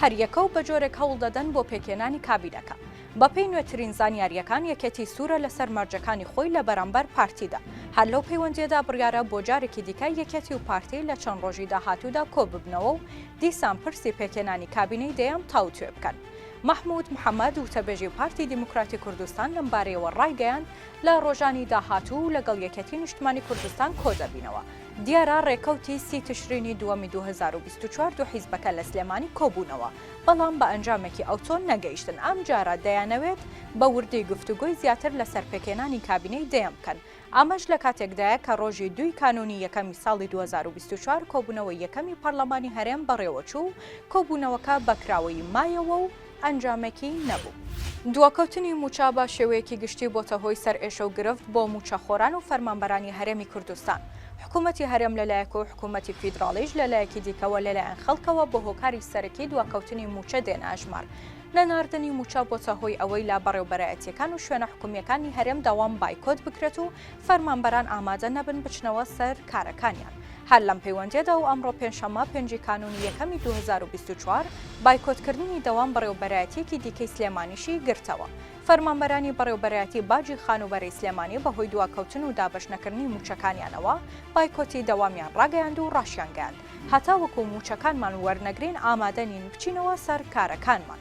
هەریەکە و بەجۆرێک هەوڵدەدەن بۆ پێکهێنانی کابینەکە. بەپێی نوێترین زانیارییەکان، یەکێتی سوورە لەسەر مەرجەکانی خۆی لە بەرامبەر پارتیدا. هەر لەو پەیوەندییەدا بڕیارە بۆ جارێکی دیکە یەکێتی و پارتی لە چەند ڕۆژی داهاتوودا کۆببنەوە و دیسان پرسی پێکهێنانی کابینەی دەیان تاوتوێ بکەن. مەحمود محەمەد، وتەبێژی پارتی دیموکراتی کوردستان لەمبارەیەوە ڕایگەیاند، لە ڕۆژانی داهاتوو لەگەڵ یەکێتی نیشتمانی کوردستان کۆدەبینەوە. دیارە رێکەوتی سی تشرینی دووەمی دوو هەزار و بیست و چوار دوو حیزبەکە لە سلێمانی کۆبوونەوە، بەڵام بە ئەنجامێکی ئەوتۆ نەگەیشتن، ئەمجارە دەیانەوێت بە وردی گفتوگۆی زیاتر لەسەر پێکهێنانی کابینەی دەیەم بکەن، ئەمەش لە کاتێکدایە کە رۆژی دووی کانوونی یەکەمی ساڵی دوو هەزار و بیست و چوار کۆبوونەوەی یەکەمی پەرلەمانی هەرێم بەڕێوەچوو و کۆبوونەوەکە بە کراوەیی مایەوە و ئەنجامێکی نەبوو. دواکەوتنی مووچە بە شێوەیەکی گشتی بۆتە هۆی سەرئێشە و گرفت بۆ مووچەخۆران و فەرمانبەرانی هەرێمی کوردستان، حکوومەتی هەرێم لە لایەک و حکوومەتی فیدراڵیش لە لایەکی دیکەوە لەلایەن خەڵکەوە بە هۆکاری سەرەکی دواکەوتنی مووچە دێنە ئەژمار، نەناردنی مووچە بۆتە هۆی ئەوەی لە بەڕێوبەرایەتییەکان و شوێنە حکوومییەکانی هەرێم داوام بایکۆت بکرێت و فەرمانبەران ئامادە نەبن بچنەوە سەر کارەکانیان. هەر لەم پەیوەندییەدا و ئەمڕۆ پێنجشەممە پێنجی کانوونی یەکەمی دوو هەزار و بیست و چوار، بایکۆتکردنی دەوام بەڕێوەبەرایەتییەکی دیکەی سلێمانیشی گرتەوە. فەرمانبەرانی بەڕێوەبەرایەتی باجی خانووبەرەی سلێمانی بەهۆی دواکەوتن و دابەش نەکردنی مووچەکانیانەوە بایکۆتی دەوامیان ڕاگەیاند و ڕاشیانگەیاند، هەتاوەکو مووچەکانمان وەرنەگرین ئامادە نین بچینەوە سەر کارەکانمان.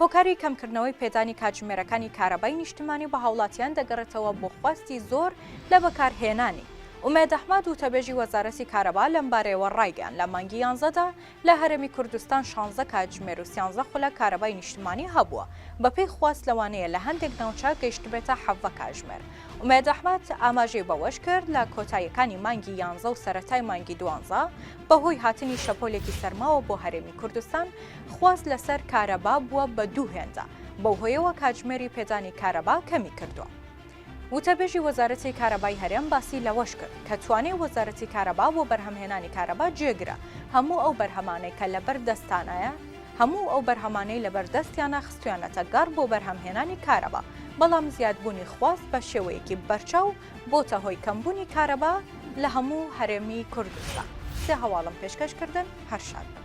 هۆکاری کەمکردنەوەی پێدانی کاتژمێرەکانی کارەبای نیشتمانی بە هاوڵاتیان دەگەڕێتەوە بۆ خواستی زۆر لە بەکارهێنانی. ئومێد ئەحمەد، وتەبێژی وەزارەتی کارەبا لەمبارەیەوە ڕایگەیاند، لە مانگی یانزەدا لە هەرێمی کوردستان شانزە کاتژمێر و سیانزە خولەک کارەبای نیشتمانی هەبووە، بەپێی خواست لەوانەیە لە هەندێک ناوچە گەیشتبێتە حەڤە کاتژمێر. ئومێد ئەحمەد ئاماژەی بەوەشکرد، لە کۆتاییەکانی مانگی یانزە و سەرەتای مانگی دوانزە بەهۆی هاتنی شەپۆلێکی سەرماوە بۆ هەرێمی کوردستان، خواست لەسەر کارەبا بووە بە دوو هێندە، بەو هۆیەوە کاتژمێری پێدانی کارەبا کەمی کردووە. وتەبێژی وەزارەتی کارەبای هەرێم باسی لەوەش کرد، کە توانای وەزارەتی کارەبا بۆ بەرهەمهێنانی کارەبا جێگرە، هەموو ئەو بەرهەمانەی کە لەبەر دەستانایە، هەموو ئەو بەرهەمانەی لەبەر دەستیانە خستوویانەتە گەڕ بۆ بەرهەمهێنانی کارەبا، بەڵام زیادبوونی خواست بە شێوەیەکی بەرچاو بۆتە هۆی کەمبونی کارەبا لە هەموو هەرێمی کوردستان سێ هەواڵم پێشکەش کردن هەر شاد بن.